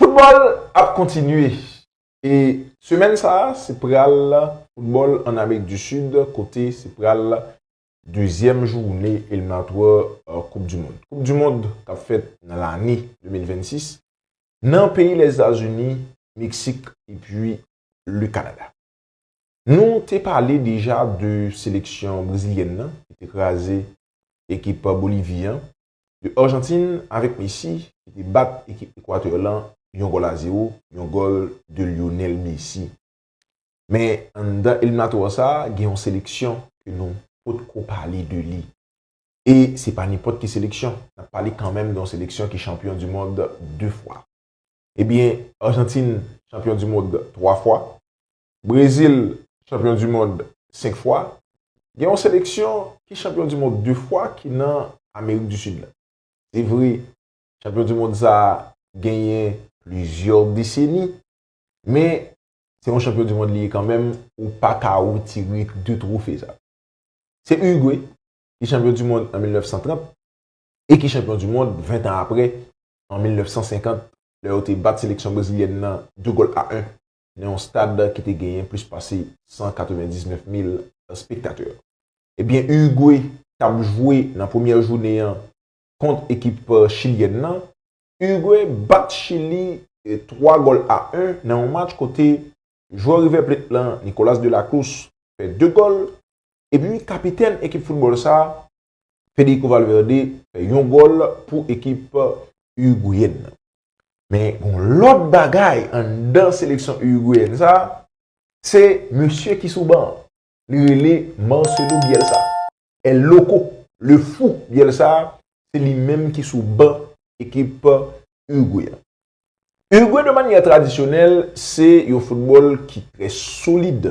Football ap kontinye e semèn sa se pral football an Amerik du Sud kote se pral dezyèm joune eliminatwa koup du mond. Koup du mond kap fèt nan lane 2026 nan peyi Lèzetazuni, Meksik epi le Kanada. Nou te pale deja de seleksyon brezilyèn nan ki te kraze ekip Bolivi an de Arjantin avèk Messi ki te bat ekip Ekwatè lan yon gòl a zewo, yon gòl de Lionel Messi. Men anndan eliminatò sa gen yon seleksyon ke nou pot ko pale de li. E se pa nenpòt ki seleksyon, nap pale kanmenm de yon seleksyon ki chanpyon du mond 2 fwa. Ebyen Arjantin chanpyon du mond 3 fwa, Brezil chanpyon du mond 5 fwa, gen yon seleksyon ki chanpyon du mond 2 fwa ki nan Amerik du Sud la. Se vre, chanpyon du mond sa a genyen plizyè deseni, men se yon chanpyon du mond li ye kanmenm, ou pa ka retire 2 twofe sa yo. Se Urugwe ki chanpyon du mond an 1930 e ki chanpyon du mond 20 tan apre an 1950 lè yo te bat seleksyon brezilyèn nan 2 gòl a 1. nan yon stad ki te genyen plis pase 199 mil spektatè. Ebyen Urugwe tap jwe nan premyè jounen an kont ekip chilyèn nan. Urugwe bat Chili 3 gòl a 1 nan yon match kote jwè River Plate lan Nicolas Delacruz fè 2 gòl epi kapitèn ekip foutbòl sa Federico Valverde fè yon gòl pou ekip Urugweyen nan. Men gon lòt bagay anndan seleksyon Urugweyen sa, se mesye ki sou ban an. Li rele Marcelo Bielsa, El Loco, Le Fou Bielsa, se li menm ki sou ban ekip Urugwe a. Urugwe de manyè tradisyonèl se yon foutbòl ki trè solid.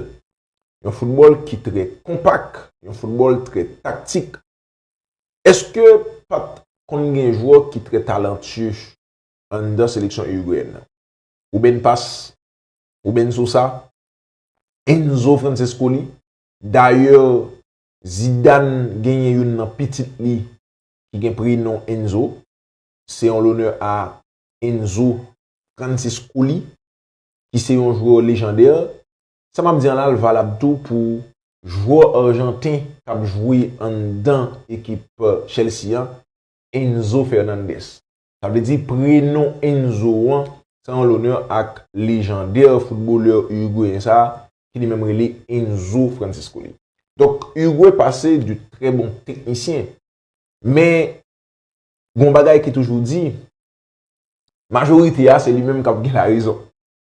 Yon foutbòl ki trè konpak, yon foutbòl trè taktik. Eske pat konn gen jwè ki trè talantye anndan seleksyon Irigweyen nan? Ruben Paz? Ruben Sosa? Enzo Francescoli? Dayè Zidane genyen youn nan pitit li ki gen prenon Enzo. Se an lonè a Enzo Franciscoli ki se yon jwè lejandè Sa m ap di an la l valab tou pou jwè arjanten k ap jwe anndan ekip Chelsea an, Enzo Fernandez. Sa vle di prenon Enzo an se an lonè ak lejandè foutbolè urugweyen sa a ki li menm rele Enzo Francescoli. Donk Urugwe pase de trè bon teknisyen. Men gen yon bagay ki toujou di, majorite a se li menm k ap gen larezon.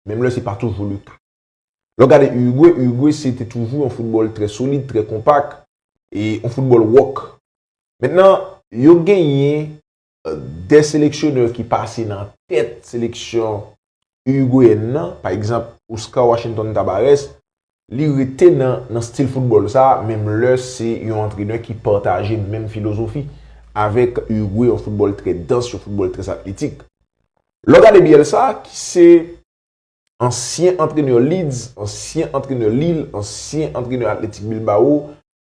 Menm lè se pa toujou leka. Lè w gade Uruguay, Uruguay se te toujou yon foutbòl trè solid, trè konpak, e yon foutbòl wòk. Mentnan, yo genyen 2 seleksyonè ki pase nan tèt seleksyon Uruguayèn nan, pa egzanp, Oscar Washington Tabarès, li rete nan stil foutbòl sa a, menm lè se yon antrenè ki pataje menm filozofi avèk Uruguay, yon foutbòl trè dans, yon foutbòl trè atletik. Lè w gade Bielsa, ki se Ansyen antrenè Leeds, ansyen antrenè Lille, ansyen antrenè Athletic Bilbao,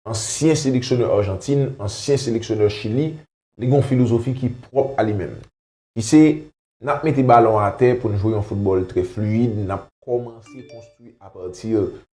ansyen seleksyonè Arjantin, ansyen seleksyonè Chili, li gen yon filozofi ki pwòp a li menm. Ki se, n ap mete balon atè pou n jwe yon foutbòl trè fluid, n ap kòmanse konstwi a partir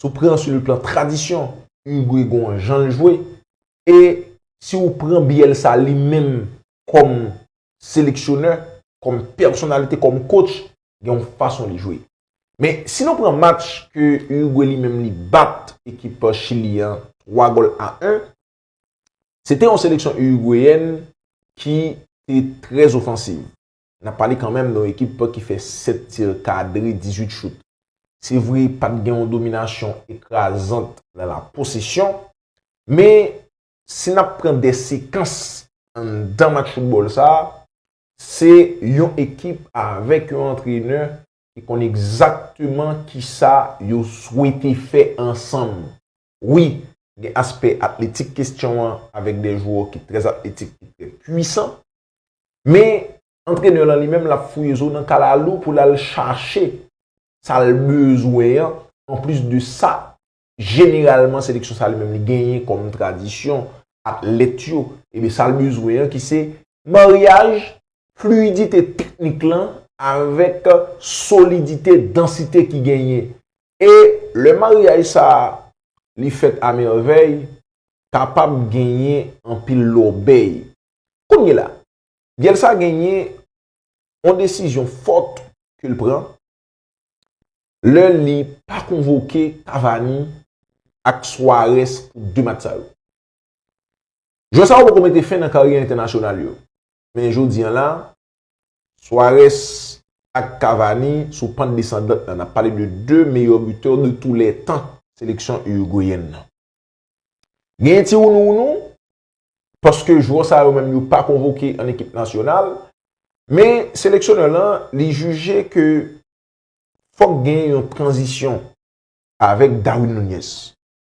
Si w pran sou le plan tradisyon, Uruguay gen yon jan l jwe. E si w pran Bielsa li menm kòm seleksyonè, kòm pèsonalite, kòm coach, gen yon fason li jwe. Men, si nou pran match ke Uruguay li menm li bat ekip Chili an 3 gòl a 1, se te yon seleksyon Uruguayèn ki te trè ofansiv. N ap pale kanmenm de yon ekip ki fè 7 tir kadre, 18 chout. Se vre pa t gen yon dominasyon ekrazant nan la posesyon, men si n ap pran de sekans anndan match foutbòl sa, se yon ekip avèk yon antrenè ki konn egzakteman kisa yo swete fè ansanm. Wi, gen aspè atletik kestyon an avèk de jwè ki trè atletik, ki trè pwisan. Men, antrenè lan li menm l ap fouye zo nan kalalou pou l al chache sa l bezwen an, anplis de sa, jeneralman seleksyon sa li menm li genyen kòm tradisyon, atlèt yo, e sa l bezwen an ki se Maryaj fliyidite teknik lan avèk solidite dansite ki genyen. E lè maryaj sa a li fèt amèvèy, kapab genyen anpil lòbèy. Kounye la, gèl sa genyen yon desizyon fòt ke l pran lè li pa konvoke Cavani ak Suarez pou 2 match sa yo. Jwè sa yo poko mete fen nan karyè entènasyonal yo, men jodi an la, Suarez ak Cavani sou pant desandant nan, n ap pale de 2 meyè butè de tou lè tan seleksyon Urugweyèn nan. Genyen ti wounouwounou, paske jwè sa yo menm yo pa konvoke an ekip nasyonal, men seleksyonè lan li jije ke fòk genyen yon tranzisyon avèk Darwin Nunez.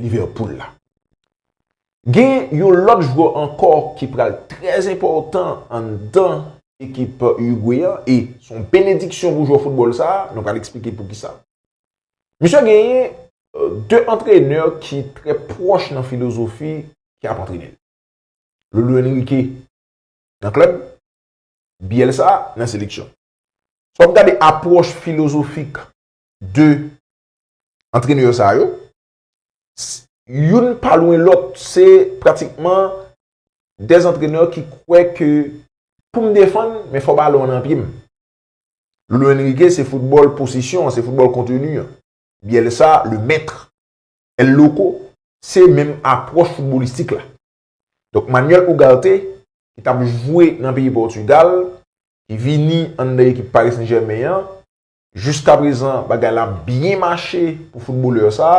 Liverpool la. Gen yon lòt jwè ankò ki pral trè enpòtan anndan ekip Urugwe an e se yon benediksyon pou jwè foutbòl sa, nou pral eksplike poukisa. Misye genyen 2 antrenè ki trè pwòch nan filozofi ki ap antrene l. Lolo Enrique nan klèb, Bielsa nan seleksyon. Sa w ap gade apwòch filozofik 2 antrenè sa yo, youn pa lwen lòt, se pratikman de antrenè ki kwè ke pou m defann, men fò balon nan pye m. Lolo Enrique se foutbòl posesyon, se foutbòl kontenu. Bielsa, le mèt, El Loco, se menm apwòch foutbolistik la. Donk Manuel Ugarte, ki t ap jwe nan peyi Portugal, ki vini anndan ekip Paris Saint-Germain an, Jiska prezan bagay la ap byen mache pou foutbolè sa,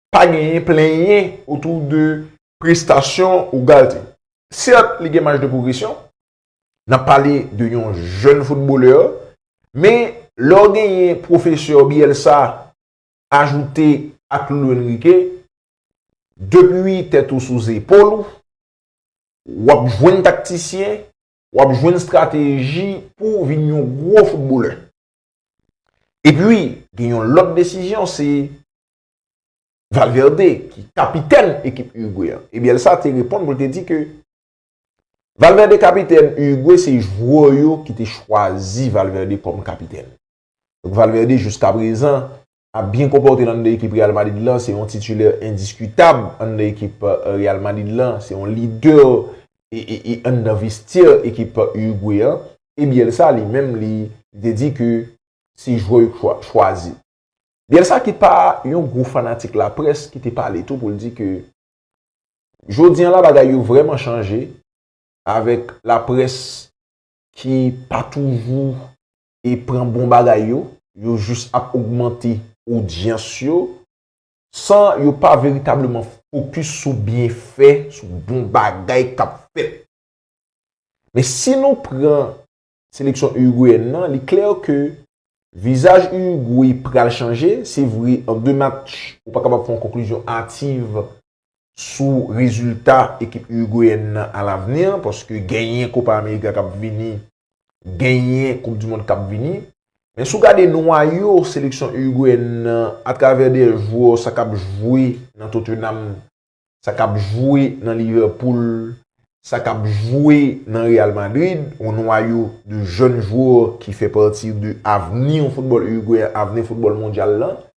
pa genyen plenyen otou de prestasyon Ugarte. Sèt li gen maj de pwogresyon, n ap pale de yon jèn foutbolè, men lè w genyen pwofesè Bielsa ajoute ak Luis Enrique, depi tèt ou sou zepòl ou, w ap jwenn taktisyen W ap jwenn strateji pou w vin yon gwo foutbolè. Epi, gen yon lòt desizyon se Valverde ki kapitèn ekip Urugwe an. E Bielsa te reponn pou l te di ke Valverde kapitèn Urugwe se jwè yo ki te chwazi Valverde kòm kapitèn. Valverde jouskaprezan ap byen konpòte lan nan ekip Real Madrid lan, se yon titilè endiskitab an nan ekip Real Madrid lan, se yon lidè an nan vestyè ekip Urugwe an, e Bielsa li menm li te di ke se jwè yo chwazi. Bielsa ki pa yon gwo fanatik laprès ki te pale tou pou l di ke jodi an la bagay yo vrèman chanje avèk laprès ki pa toujou e pran bon bagay yo, yo jis ap ogmante odyans yo, san yo pa veritableman fokis sou byenfè, sou bon bagay k ap fèt. Men si nou pran seleksyon Urugweyen nan, li klè ke vizaj Urugwe pral chanje, se vre an 2 match ou pa kapab fè yon konklizyon ativ sou rezilta ekip Urugweyen nan a lavni an paske genyen Kopa Amerika k ap vini, genyen koup di mond k ap vini. Men si w gade nwayo seleksyon Urugweyen nan atravè de jwè sa k ap jwe nan Tottenham, sa k ap jwe nan Liverpool, sa k ap jwe nan Real Madrid, yon nwayo de jèn jwè ki fè pati de avni foutbòl Urugweyen, avni foutbòl mondyal lan,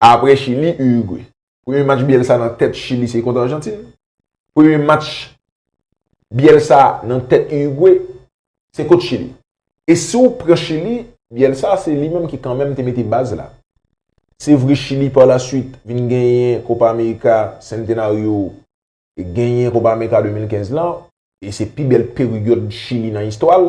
Apre Chili, Urugwe. Premye match Bielsa nan tèt Chili se kont Arjantin. Premye match Bielsa nan tèt Urugwe se kont Chili. E si ou pran Chili, Bielsa se li menm ki kanmenm te mete baz la. Se vre Chili pa la suit vin genyen Kopa Amerika Centenario e genyen Kopa Amerika 2015 lan e se pi bèl peryòd Chili nan istwa l.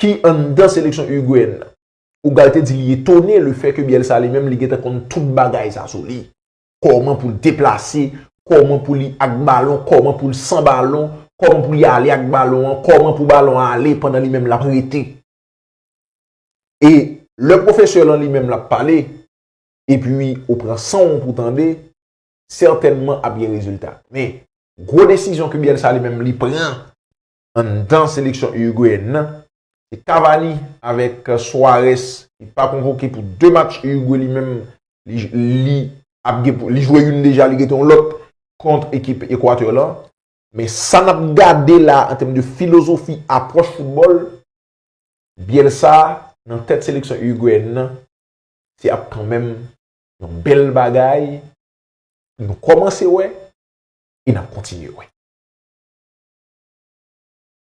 ki anndan seleksyon Urugweyen nan. Ugal te di li etone le fè ke Bielsa li menm li gentan konn tout bagay sa sou li. Kòman pou l deplase, kòman pou li ak balon, kòman pou l san balon, kòman pou li ale ak balon an, kòman pou balon an ale pandan li menm l ap rete. E lè pwofesè lan li menm l ap pale, epi ou pran san w an pou w tande, sètènman ap gen rezilta. Men, gwo desizyon ke Bielsa li menm li pran, anndan seleksyon Urugweyen nan, se Cavani avèk Suarez ki pa konvoke pou 2 match Urugwe li menm li ap gen pou, li jwe youn deja li gete yon lòt kont ekip Equateur lan. Men sa n ap gade la an tèm de filozofi apwòch foutbòl, Bielsa nan tèt seleksyon Urugweyen nan se ap kanmenm yon bèl bagay pou nou kòmanse wè e nap kontinye wè.